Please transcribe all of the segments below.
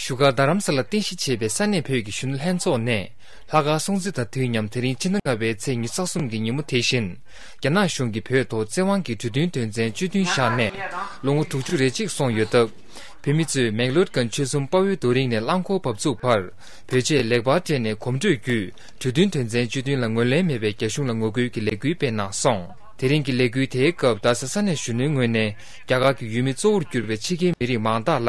བཞུགས་སྒར་རྡ་རམ་ས་ལ་རྟེན་གཞི་བྱས་པའི་ས་གནས་བོད་ཀྱི་གཞོན་ནུ་ལྷན་ཚོགས་ནས་ལྷ་དཀར་སྲུང་བརྩི་དང་དུས་མཉམ་དེ་རིང་སྤྱི་ཟླ་ལྔ་བའི་ཚེས་ཉི་ས་གསུམ་གྱི་ཉིན་མོ་དེ་བཞིན་རྒྱ་ནག་གཞུང་གིས་བོད་ཐོག་བཙན་དབང་གིས་གྲོས་མཐུན་དོན་ཚན་བཅུ་བདུན་བཞག་ནས་ལོ་ངོ་དྲུག་ཅུ་རེ་གཅིག་སོང་ཡོད་སྟབས་བོད་མི་ཚོས་མེག་ལོད་ཀན་ཆོས་གསུམ་དཔའ་བོའི་རྡོ་རིང་ནས་རླངས་འཁོར་བབས་ཚུགས་བར་བོད་ཆས་ལེགས་པར་སྤྲས་ནས་གོམ་བགྲོད་བརྒྱུད་གྲོས་མཐུན་དོན་ཚན་བཅུ་བདུན་ལ་ངོས་ལེན་མེད་པའི་རྒྱ་གཞུང་ལ་ངོ་རྒོལ་གྱི་ལས་འགུལ་སྤེལ་གནང་སོང། དེ་རིང་གི་ལས་འགུལ་དེའི་སྐབས་རྡ་ས་ས་གནས་གཞོན་ནུའི་ངོས་ནས་རྒྱ་གར་གྱི་ཡུལ་མི་གཙོ་བོར་གྱུར་པའི་ཕྱི་རྒྱལ་མི་རིགས་མང་དག་ལ་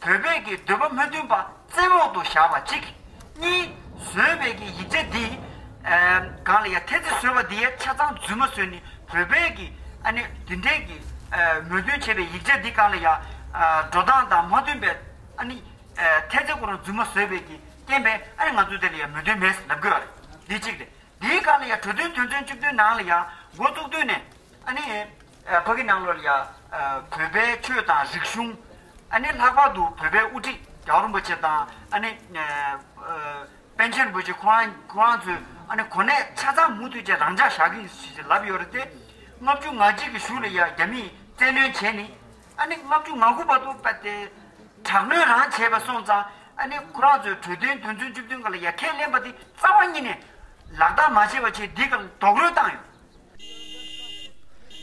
བོད་སྦས་ཀྱི་འདོད་པ་མི་མཐུན་པ་བཙན་འོག་ཏུ་བཞག་པ་གཅིག། གཉིས། བཟོད་སྦས་ཀྱི་ཡིག་ཆ་འདི། གང་ལ་ཡང་ཐེ་ཚེ་བཟོད་པ་འདི་ཡ་ཆ་ཚང་རྫུན་མ་བཟོས་ནི་བོད་སྦས་ཀྱི་ཨ་ནི་འདི་འདྲས་ཀྱི། མོས་མཐུན་བྱས་པའི་ཡིག་ཆ་འདི་གང་ལ་ཡང། འགྲོ་སྟངས་དང་མ་མཐུན་པའི་ཨ་ནི། ཐེ་ཚེ་ཁོ་རང་རྫུན་མ་བཟོས་པས་ཀྱི་རྐྱེན་པས་ཨ་ནི་ང་ཚོ་དེ་ལ་ཡང་མོས་མཐུན་མེད་ཟེར་ལབ་དགོས་པ་རེད་འདི་གཅིག་རེད། འདིའི་གང་ལ་ཡང་གྲོས་མཐུན་དོན་ཚན་བཅུ་བདུན་ནང་ལ་ཡང་མགོ་བཙུགས་དུས་ནས། ཨ་ནི། བོད་ཀྱི་ནང་ལོར་ཡ། བོད་པའི་ཆོས་དང་རིག་གཞུང། ཨ་ནི། ལྷག་པར་དུ་བོད་པའི་དབུ་ཁྲིད་རྒྱ་བོད་རིན་པོ་ཆེ་དང་ཨ་ནི། པཎ་ཆེན་རིན་པོ་ཆེ་ཁོ་རང་ཁོ་རང་ཚོའི་ཨ་ནི་གོ་གནས་ཆ་ཚང་མུ་མཐུད་ཅིག་རང་འཇགས་བཞག་གི་ལབ་ཡོད་རེད་དེ། ལྔ་བཅུ་ང་གཅིག་གི་གཞུག་ལ་ཡ་རྒྱ་མིས་བཙན་གནོན་བྱས་ནི། ཨ་ནི་ལྔ་བཅུ་ང་དགུ་བར་དུ་པ་དེ། དྲག་གནོན་རང་བྱས་པ་སོང་ཙང་ཨ་ནི་ཁོ་རང་ཚོའི་གྲོས་དོན་དོན་ཚུན་བཅུ་བདུན་ག་ལ་ཡ་ཁས་ལེན་པ་དེ་རྩ་བ་ཉིད་ནས། ལག་བསྟར་མ་བྱས་པ་བྱས་འདི་ག་ལ་རྡོག་རོལ་བཏང་ཡོད།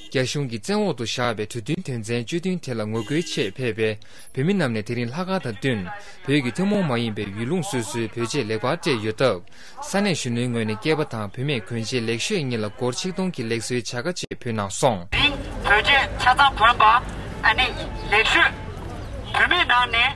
རྒྱ་གཞུང་གི་བཙན་འོག་ཏུ་བཞག་པའི་གྲོས་མཐུན་དོན་ཚན་བཅུ་བདུན་དེ་ལ་ངོ་རྒོལ་ཆེད་ཕེབས་པའི་བོད་མི་རྣམས་ནས་དེ་རིང་ལྷ་ཁང་དང་བསྟུན། བོད་ཀྱི་ཐུན་མོང་མ་ཡིན་པའི་ཡུལ་ལུང་སོ་སོའི་བོད་ཆས་ལེགས་པར་སྤྲས་ཡོད་སྟབས། ས་གནས་གཞོན་ནུའི་ངོས་ནས་སྐྱེས་པ་དང་བུད་མེད་གོན་ཆས་ལེགས་ཤོས་གཉིས་ལ་སྒོར་ཆིག་སྟོང་གི་ལེགས་གསོའི་བྱ་དགའ་བཅས་ཕུལ་གནང་སོང། འདིས་བོད་ཆས་ཆ་ཚང་བོན་པ། ཨ་ནེ། ལེགས་ཤོས་བུད་མེད་ནང་ནས།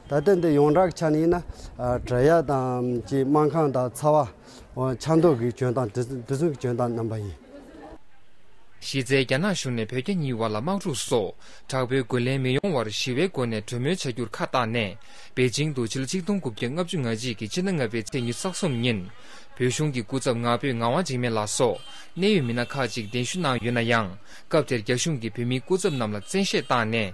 ད་ལྟ་འདི་ཡོངས་གྲགས་ཆ་ནས་ཡིན་ན་བྲག་ཡ་དང་ཅེས་སྨར་ཁང་དང་ཚ་བ། ཆ་མདོ་གི་གྱོན་སྟངས་དེ་ཚོ་གྱོན་སྟངས་རྣམ་པ་ཡིན། གཞི་རྩའི་རྒྱ་ནག་གཞུང་ནས་བོད་རྒྱ་གཉིས་བར་ལ་དམག་འཁྲུག་སོགས་དྲག་པོའི་རྒོལ་ལན་མི་ཡོང་བར་ཞི་བའི་སྒོ་ནས་གྲོས་མོལ་བྱ་རྒྱུར་ཁ་བཏགས་ནས་པེ་ཅིང་དུ་ཕྱི་ལོ་ཆིག་སྟོང་དགུ་བརྒྱ་ལྔ་བཅུ་ང་གཅིག་གི་ཕྱི་ཟླ་ལྔ་པའི་ཚེས་ཉི་ཟག་གསུམ་ཉིན་བོད་གཞུང་གི་སྐུ་ཚབ་ང་ཕོད་ངག་དབང་འཇིགས་མེད་ལགས་སོགས་གནད་ཡོད་མི་སྣ་ཁག་ཅིག་གདན་ཞུ་གནང་ཡོད་ན་ཡང་སྐབས་དེར་རྒྱ་གཞུང་གིས་བོད་མིའི་སྐུ་ཚབ་རྣམས་ལ་བཙན་ཤེད་བཏང་ནས།